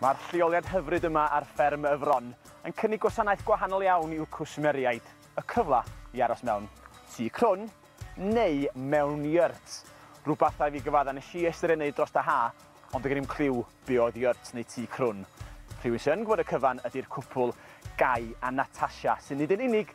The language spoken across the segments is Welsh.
Mae'r lleoliad hyfryd yma ar fferm y Fron yn cynnig gwasanaeth gwahanol iawn i'w cwsmeriaid, y cyfle i aros mewn tŷ crwn neu mewn yurt, rhywbeth da i fi gyfadda nes i estyn ei wneud dros da ha ond doedd gennym cliw be oedd yurt neu tŷ crwn. Rhywun sy'n gwybod y cyfan ydy'r cwpwl Guy a Natasha sy'n nid yn unig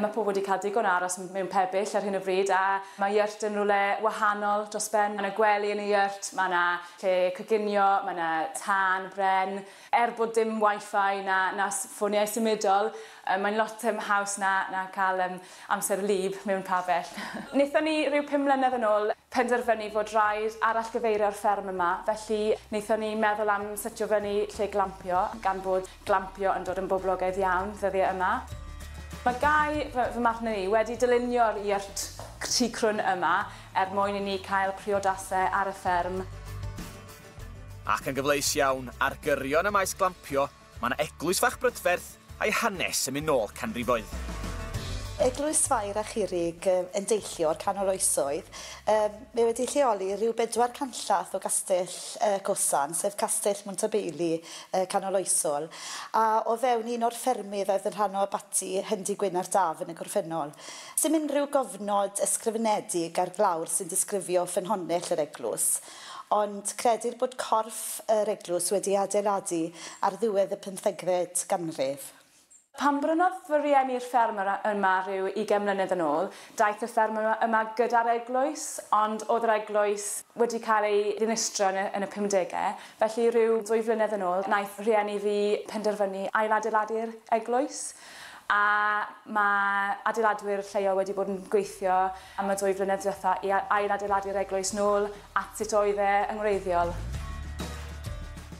Mae pobl wedi cael digon o aros mewn pebyll ar hyn o bryd a mae yurt yn rywle wahanol dros ben. Mae 'na gwely yn y yurt, mae 'na lle coginio, mae 'na tân bren. Er bod dim Wi-Fi na na ffoniau symudol, mae'n lot yym haws na na cael yym amser wlyb mewn pabell. Wnaethon ni, ryw pum mlynedd yn ôl, penderfynu fod raid arallgyfeirio'r fferm yma, felly wnaethon ni meddwl am setio fyny lle glampio, gan bod Glampio yn dod yn boblogaidd iawn ddyddiau yma. Mae Guy, fy, fy mhartner i, wedi dylunio'r yurt tu crwn yma er mwyn i ni cael priodasau ar y fferm. Ac yn gyfleus iawn, ar gyrion y maes glampio, mae 'na eglwys fach brydferth a'i hanes yn mynd nôl canrifoedd. Eglwys Fair a Chirrig yn deillio o'r canol oesoedd. Yym. Mae wedi lleoli rhyw bedwar canllath o Gastell y Cosan, sef Castell Montabeili, y Canoloesol, a o fewn un o'r ffermydd a oedd yn rhan o abaty Hendy Gwyn ar Daf yn y gorffennol. Does dim unrhyw gofnod ysgrifenedig ar glawr sy'n disgrifio ffynhonnell yr eglwys, ond credir bod corff yr eglwys wedi ei adeiladu ar ddiwedd y pymthegfed ganrif. Pan brynodd fy rieni'r fferm yr yma rhyw ugain mlynedd yn ôl, daeth y fferm y yma gyda'r eglwys, ond o'dd yr eglwys wedi cael ei ddinistrio yn y yn y pumdege, felly rhyw ddwy flynedd yn ôl naeth rhieni fi penderfynu ailadeiladu'r eglwys, a ma' adeiladwyr lleol wedi bod yn gweithio am y ddwy flynedd dwetha i a- ailadeiladu'r eglwys nôl At sut oedd e yn wreiddiol?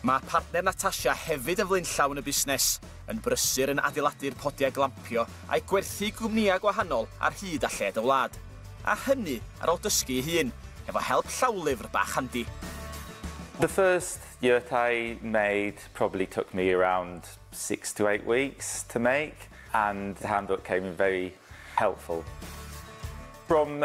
Mae partner Natasha hefyd yn flaenllaw yn y busnes, yn brysur yn adeiladu'r podiau glampio a'i gwerthu i gwmnïau gwahanol ar hyd a lled y wlad. A hynny ar ôl dysgu ei hun, hefo help llawlyfr bach handi. The first yurt I made probably took me around six to eight weeks to make and the handbook came in very helpful. From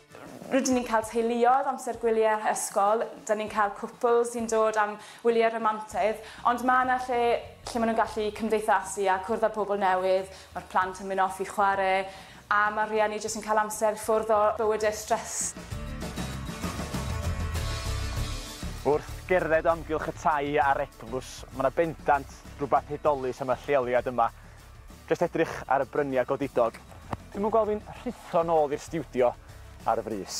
Rydyn ni'n cael teuluoedd, amser gwyliau ysgol, dan ni'n cael cwpl sy'n dod am wyliau romantaidd, ond mae yna lle lle maen nhw'n gallu cymdeithasu a cwrdd â pobl newydd, mae'r plant yn mynd off i chwarae, a mae'r rhieni jyst yn cael amser ffwrdd o bywydau stress. Wrth gerdded o amgylch y tai a'r eglws, mae yna bendant rhywbeth hudolus am y lleoliad yma, Jyst edrych ar y bryniau godidog, dwi'm yn gweld fi'n rhuthro nôl i'r stiwdio ar y frys.